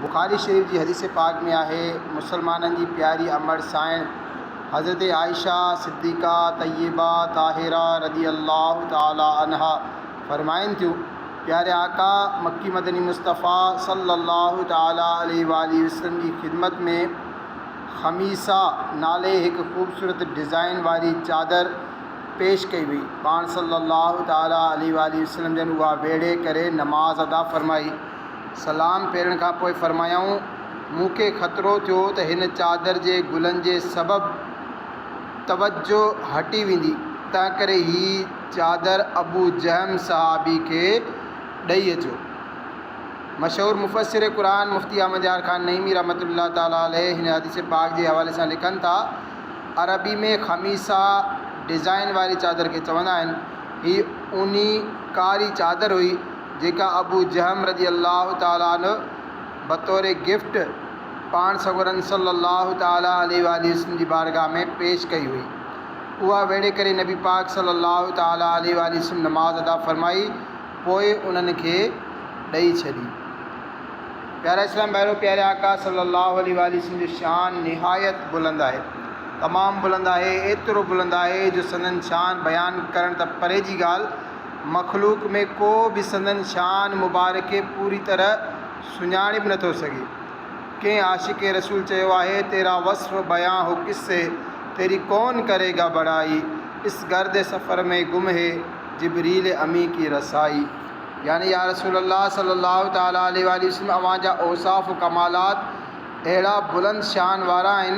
بخاري شريف جي حديث پاڪ ۾ آهي، مسلمانن جي پياري امڙ سائڻ حضرت عائشه صديقه طيبه طاهره رضي الله تعالي عنها فرمائن ٿيون، پياري آقا مڪي مدني مصطفيٰ صلّي الله تعالي عليه واٰله وسلّم جي خدمت ۾ خميصه نالي هڪ خوبصورت ڊزائين واري چادر پيش ڪئي وئي، پاڻ صلّي الله تعالي عليه واٰله وسلّم جن اها ويڙهي ڪري نماز ادا فرمائي. سلام ڦيرڻ کان پوء فرمايائون، مون کي خطرو ٿيو ته هن چادر جي گلن جي سبب توجهه هٽي ويندي، تنهنڪري هي چادر ابو جهم صحابي کي ڏئي اچو. مشهور مفسر قرآن مفتي احمد يار خان نعيمي رحمة الله تعالٰي عليه هن حديث پاڪ جي حوالي سان لکن ٿا، عربي ۾ خميصه ڊزائين واري چادر کي چوندا آهن. هي اوني ڪاري چادر هئي. جيڪا ابو جهم رضي الله تعالٰي عنه بطور گفٽ پاڻ سڳورن صلّي الله تعالٰي عليه واٰله وسلّم جي بارگاھ ۾ پيش ڪئي هئي. اها ويڙهي ڪري نبي پاڪ صلّي الله تعالٰي عليه واٰله وسلّم نماز ادا فرمائي پوء انهن کي ڏئي ڇڏي. پيارا اسلامي ڀائرو! پياري آقا صلّي الله عليه واٰله وسلّم جو شان نهايت بلند آهي، تمام بلند آهي، ايترو بلند آهي جو سندن شان بيان ڪرڻ ته پري جي ڳالھ، مخلوق ۾ ڪو به سندن شان مبارڪ کي پوري طرح سڃاڻي به نٿو سگهي. ڪنهن عاشق رسول چيو آهي، تيرا وصف بيان هو ڪس سي، تيري ڪون ڪري گا بڙائي، اس گرد سفر مين گم هي، جبريل امين ڪي رسائي. يعني يا رسول الله صلي الله تعالٰي عليه واٰله وسلم اوهان جا اوصاف و ڪمالات اهڙا بلند شان وارا آهن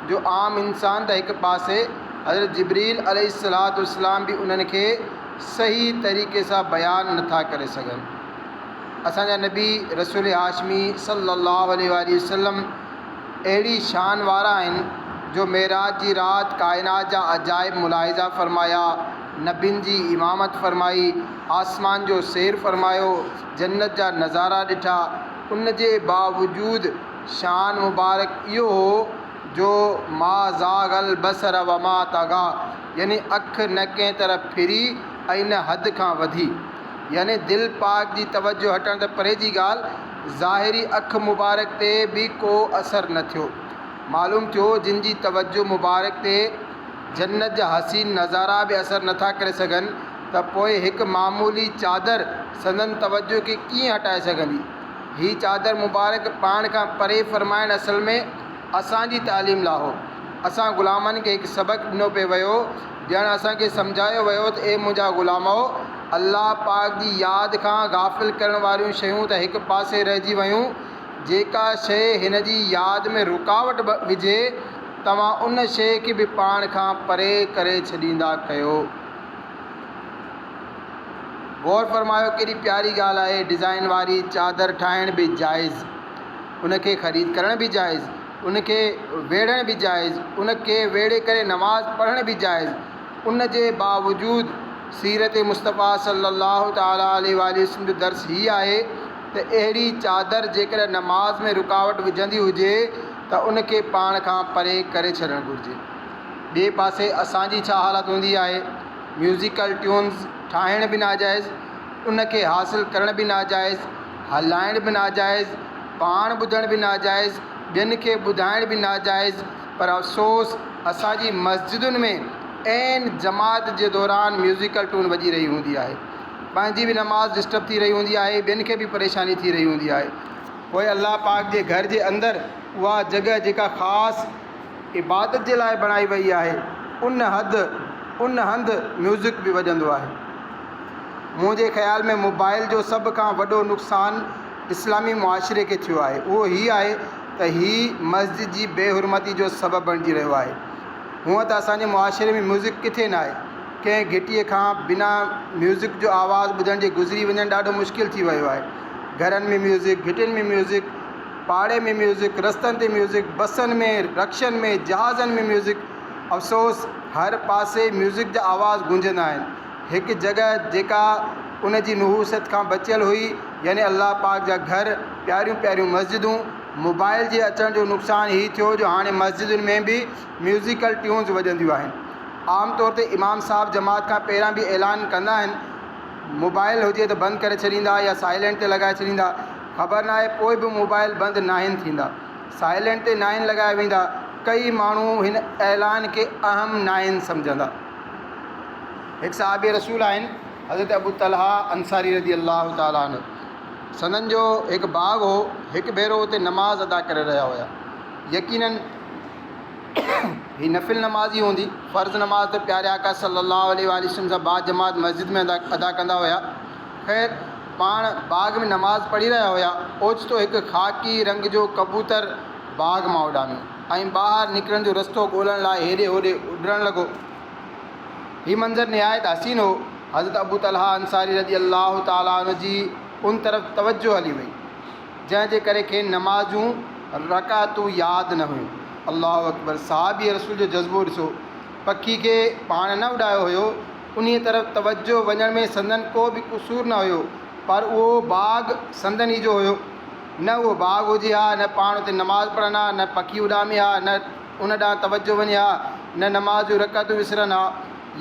جو عام انسان ته هڪ پاسي حضرت جبريل عليه الصلوة والسلام به انهن کي صحيح طريقي سان بيان نه ٿا ڪري سگهن. اسان جا نبي رسول هاشمي صلّي اللّٰه عليه واٰله وسلّم اهڙي شان وارا آهن جو معراج جي رات ڪائنات جا عجائب ملاحظه فرمايا، نبين جي امامت فرمائي، آسمان جو سير فرمايو، جنّت جا نظارا ڏٺا، ان جي باوجود شان مبارڪ اهو هو جو ما زاغ البصر وما طغيٰ يعني اک نه ڪنهن طرف ڦري ۽ نه حد کان وڌي. يعني دل پاڪ جي توجه هٽڻ ته پري جي ڳالهه، ظاهري اک مبارڪ تي به ڪو اثر نه ٿيو. معلوم ٿيو جن جي توجه مبارڪ تي جنت جا حسين نظارا به اثر نه ٿا ڪري سگهن ته پوء هڪ معمولي چادر، سندن توجه کي ڪيئن هٽائي سگهندي. هي چادر مبارڪ پاڻ کان پري فرمائڻ اصل ۾ اسان جي تعليم لا هو. اسان غلامن کي هڪ سبق ڏنو پئي ويو، ڄڻ اسان کي سمجهايو ويو ته اي منهنجا غلامؤ! الله پاڪ جي ياد کان غافل ڪرڻ واريون شيون ته هڪ پاسي رهجي ويون، جيڪا شيء هن جي ياد ۾ رڪاوٽ وجهي، توهان ان شيء کي به پاڻ کان پري ڪري ڇڏيندا ڪيو. غور فرمايو ڪيڏي پياري ڳالهه آهي ڊزائن واري چادر ٺاهڻ به جائز ان کي خريد ڪرڻ به جائز ان کي ويڙهڻ به جائز ان کي ويڙهي ڪري نماز پڙهڻ به جائز ان جي باوجود سيرت مصطفيٰ صلّي اللّٰه تعالٰي عليه واٰله وسلّم جو درس هي آهي ته اهڙي چادر جيڪڏهن نماز ۾ رڪاوٽ وجهندي هجي ته ان کي پاڻ کان پري ڪري ڇڏڻ گهرجي ٻئي پاسي اسان جي ڇا حالت هوندي آهي؟ ميوزيڪل ٽيونز ٺاهڻ به ناجائز، ان کي حاصل ڪرڻ به ناجائز، هلائڻ به ناجائز، پاڻ ٻڌڻ به ناجائز، ٻين کي ٻڌائڻ به ناجائز پر افسوس اسان جي مسجدن ۾ عين جماعت جي دوران ميوزيڪل ٽون وڄي رهي هوندي آهي. پنهنجي به نماز ڊسٽرب ٿي رهي هوندي آهي، ٻين کي به پريشاني ٿي رهي هوندي آهي. پوء الله پاڪ جي گهر جي اندر اها جڳهه جيڪا خاص عبادت جي لاء بڻائي وئي آهي ان حد ان هنڌ ميوزڪ به وڄندو آهي منهنجي خيال ۾ موبائل جو سڀ کان وڏو نقصان اسلامي معاشري کي ٿيو آهي اهو هي آهي ته هي مسجد جي بي حرمتي جو سبب بڻجي رهيو آهي هونء ته اسان جي معاشري ۾ ميوزڪ ڪٿي نه آهي ڪنهن گهٽي کان بنا ميوزڪ جو آواز ٻڌڻ جي گذري وڃڻ ڏاڍو مشڪل ٿي ويو آهي گهرن ۾ ميوزڪ گهٽين ۾ ميوزڪ پاڙي ۾ ميوزڪ، رستن تي ميوزڪ، بسن ۾، رڪشن ۾، جهازن ۾ ميوزڪ. افسوس هر پاسي ميوزڪ جا آواز گونجندا آهن. هڪ جڳهه جيڪا ان جي نحوست کان بچيل هئي يعني الله پاڪ جا گهر، پياريون پياريون مسجدون. موبائيل جي اچڻ جو نقصان هي ٿيو جو هاڻي مسجدن ۾ به ميوزيڪل ٽيونز وڄنديون آهن. عام طور تي امام صاحب جماعت کان پهريان به اعلان ڪندا آهن موبائيل هجي ته بند ڪري ڇڏيندا يا سائيلنٽ تي لڳائي ڇڏيندا. خبر ناهي پوء به موبائيل بند ناهن ٿيندا، سائلينٽ تي ناهن لڳايا ويندا، ڪيئي ماڻهو هن اعلان کي اهم ناهن سمجهندا. هڪ صحابي رسول آهن حضرت ابو طلحه انصاري رضي الله تعالٰي عنه سندن جو هڪ باغ هو هڪ ڀيرو اتي نماز ادا ڪري رهيا هيا يقيناً هي نفل نمازي هوندي فرض نماز ته پياري آقا صلي الله عليه واٰله وسلم سان باجماعت مسجد ۾ ادا ڪندا هيا خير، پاڻ باغ ۾ نماز پڙهي رهيا هيا، اوچتو هڪ خاڪي رنگ جو ڪبوتر باغ مان اڏامي ۽ ٻاهر نڪرڻ جو رستو ڳولڻ لاء هيڏي هوڏي اڏرڻ لڳو. هي منظر نهايت حسين هو. حضرت ابو طلحه انصاري رضي الله تعالٰي عنه جي ان طرف توجهه هلي وئي، جنهن جي ڪري کين نماز جون رڪعتون ياد نه هيون. الله اڪبر! صحابي رسول جو جذبو ڏسو! پکي کي پاڻ نه اڏايو هيو، انهيء طرف توجهه وڃڻ ۾ سندن ڪو به قصور نه هيو، پر اهو باغ سندن ئي جو هيو. نه اهو باغ هجي ها، نه پاڻ اتي نماز پڙهن ها، نه پکي اڏامي ها، نه ان ڏانهن توجهه وڃي ها، نه نماز جون رڪعتون وسرن ها.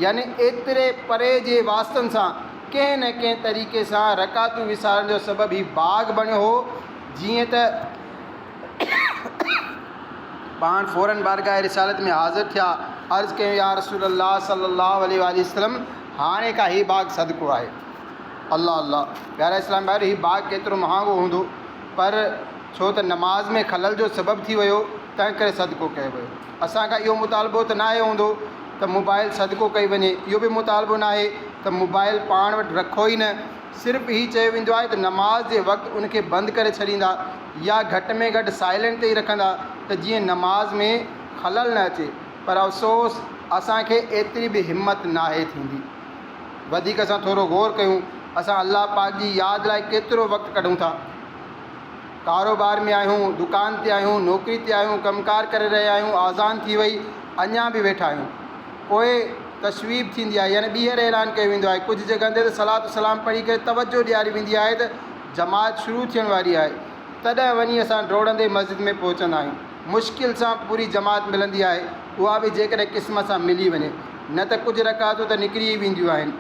يعني ايتري پري جي واسطن سان ڪنهن نه ڪنهن طريقي سان رڪعتون وسارڻ جو سبب هي باغ بڻيو هو، جيئن ته. پاڻ فوراً بارگاهه رسالت ۾ حاضر ٿيا، عرض ڪيون، يا رسول الله صلّي الله عليه واٰله وسلّم! هاڻي ڪا هي باغ صدقو آهي. الله الله! پيارا اسلامي ڀائرو! هي باغ ڪيترو مهانگو هوندو، پر ڇو ته نماز ۾ خلل جو سبب ٿي ويو، تنهنڪري صدقو ڪيو ويو. اسان کان اهو مطالبو ته ناهي هوندو ته موبائل صدقو ڪئي وڃي، اهو به مطالبو ناهي ته موبائل پاڻ وٽ رکو ئي نه، صرف هي چيو ويندو آهي ته نماز جي وقت ان کي بند ڪري ڇڏيندا يا گهٽ ۾ گهٽ سائلنٽ تي ئي رکندا ته جيئن نماز ۾ خلل نه اچي پر افسوس اسان کي ايتري به همت ناهي ٿيندي. وڌيڪ اسان ٿورو غور ڪيون اسان الله پاڪ جي ياد لاء ڪيترو وقت ڪڍون ٿا. ڪاروبار ۾ آهيون، دڪان تي آهيون، نوڪري تي آهيون، ڪم ڪار ڪري رهيا آهيون، آذان ٿي وئي، اڃا به ويٺا آهيون. پوء تصويب ٿيندي آهي يعني ٻيهر اعلان ڪيو ويندو آهي. ڪجهه جڳهن تي ته صلات و سلام پڙهي ڪري توجهه ڏياري ويندي آهي ته جماعت شروع ٿيڻ واري آهي. تڏهن وڃي اسان ڊوڙندي مسجد ۾ پهچندا آهيون. مشڪل سان پوري جماعت ملندي آهي، اها به جيڪڏهن قسمت سان ملي وڃي، نه ته ڪجهه رڪعتون ته نڪري ئي وينديون آهن.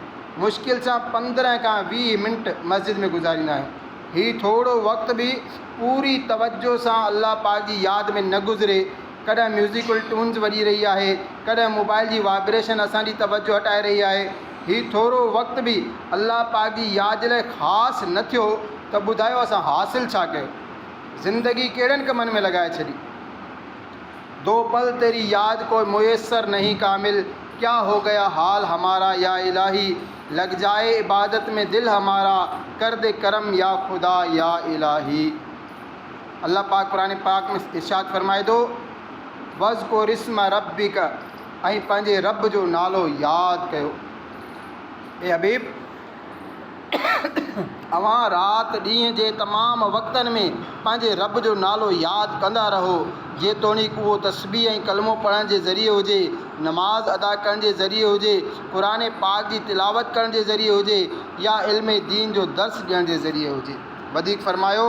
مشڪل سان پندرهن کان ويهه منٽ مسجد ۾ گذاريندا آهيون. هي ٿورو وقت به پوري توجه سان الله پاڪ جي ياد ۾ نه گذري، ڪڏهن ميوزيڪل ٽونز وڄي رهي آهي، ڪڏهن موبائل جي وائبريشن اسان جي توجه هٽائي رهي آهي، هي ٿورو وقت به الله پاڪ جي ياد جي لاء خاص نه ٿيو ته ٻڌايو اسان حاصل ڇا ڪيو؟ زندگي ڪهڙن ڪمن ۾ لڳائي ڇڏي؟ دو پل تيري ياد ڪوئي ميسر نهين ڪامل، ڪيا هو گيا حال همارا يا الٰهي؟ لڳ جائي عبادت ۾ دل همارا ڪر دي ڪرم يا خدا يا الاهي الله پاڪ قرآن پاڪ ۾ ارشاد فرمائي ٿو وذڪر اسم ربک ۽ پنهنجي رب جو نالو ياد ڪيو اي حبيب اوهان رات ڏينهن جي تمام وقتن ۾ پنهنجي رب جو نالو ياد ڪندا رهو جيتوڻيڪ اهو تسبيح ۽ ڪلمو پڙهڻ جي ذريعي هجي نماز ادا ڪرڻ جي ذريعي هجي قرآن پاڪ جي تلاوت ڪرڻ جي ذريعي هجي يا علم دين جو درس ڏيڻ جي ذريعي هجي. وڌيڪ فرمايو،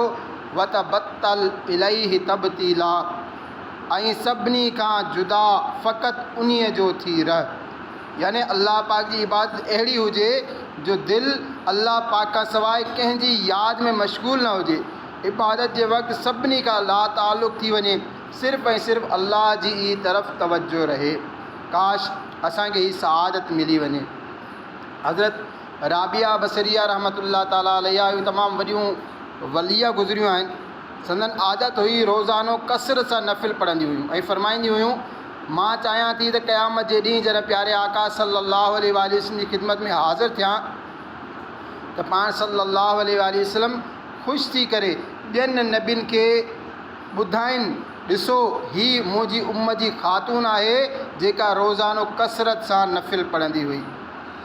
وتبتل اليه تبتيلا ۽ سڀني کان جدا فقط انهي جو ٿي رهه. يعني الله پاڪ جي عبادت اهڙي هجي جو دل الله پاڪ کان سواء ڪنهن جي ياد ۾ مشغول نه هجي. عبادت جي وقت سڀني کان لاتعلق ٿي وڃي. صرف ۽ صرف الله جي ئي طرف توجه رهي. ڪاش! اسان کي هي سعادت ملي وڃي. حضرت رابعه بصريه رحمة الله تعالٰي عليها اهيون تمام وڏيون وليه گذريون آهن. سندن عادت هئي روزانو ڪثرت سان نفل پڙهنديون هيون ۽ فرمائينديون هيون، مان چاهيان ٿي ته قيامت جي ڏينهن جڏهن پياري آقا صلّي اللّٰه عليه واٰله وسلّم جي خدمت ۾ حاضر ٿيان ته پاڻ صلّي اللّٰه عليه واٰله وسلّم خوش ٿي ڪري ٻين نبين کي ٻڌائين، ڏسو، هيء منهنجي امت جي خاتون آهي، جيڪا روزانو ڪثرت سان نفل پڙهندي هئي.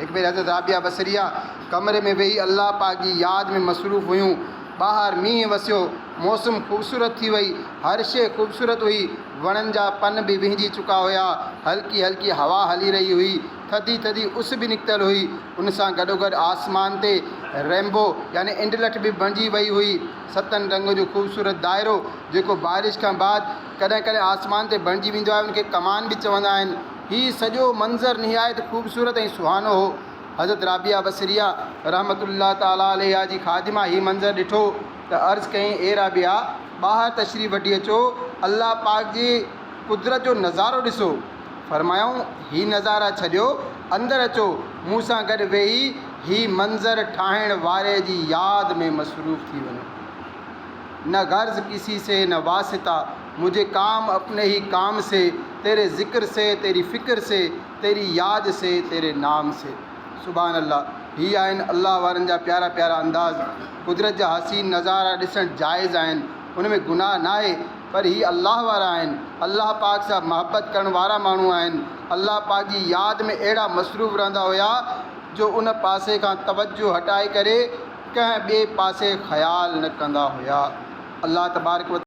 هڪ ڀيري حضرت رابعه بصريه ڪمري ۾ ويهي الله پاڪ جي ياد ۾ مصروف هيون. ٻاهر مينهن وسيو، موسم خوبصورت ٿي وئي، هر شيء خوبصورت هئي، وڻن جا پن به وهنجي چڪا هيا، هلڪي هلڪي هوا هلي رهي هئي، ٿڌي ٿڌي اس به نڪتل هئي، ان سان گڏوگڏ آسمان تي رينبو يعني انڊلٺ به بڻجي وئي هئي. ستن رنگن جو خوبصورت دائرو جيڪو بارش کان بعد ڪڏهن ڪڏهن آسمان تي بڻجي ويندو آهي، ان کي ڪمان به چوندا آهن. هي سڄو منظر نهايت خوبصورت ۽ سهانو هو. حضرت رابعه بصريه رحمة الله تعالٰي عليها جي خادمه هي منظر ڏٺو ته عرض ڪيائين، اي رابعه! ٻاهر تشريف وٺي اچو، الله پاڪ جي قدرت جو نظارو ڏسو. فرمايائون، هي نظارا ڇڏيو، اندر اچو، مون سان گڏ ويهي هي منظر ٺاهڻ واري جي ياد ۾ مصروف ٿي وڃو. نه غرض ڪسي سي نه واسطه، مجھي ڪام اپني هي ڪام سي، تيري ذڪر سي، تيري فڪر سي، تيري ياد سي، تيري نام سي. سبحان الله! هي آهن الله وارن جا پيارا پيارا انداز. قدرت جا حسين نظارا ڏسڻ جائز آهن، ان ۾ گناهه ناهي، پر هي الله وارا آهن، الله پاڪ سان محبت ڪرڻ وارا ماڻهو آهن، الله پاڪ جي ياد ۾ اهڙا مصروف رهندا هيا، جو ان پاسي کان توجه هٽائي ڪري ڪنهن ٻئي پاسي خيال نه ڪندا هيا الله تبارڪ و.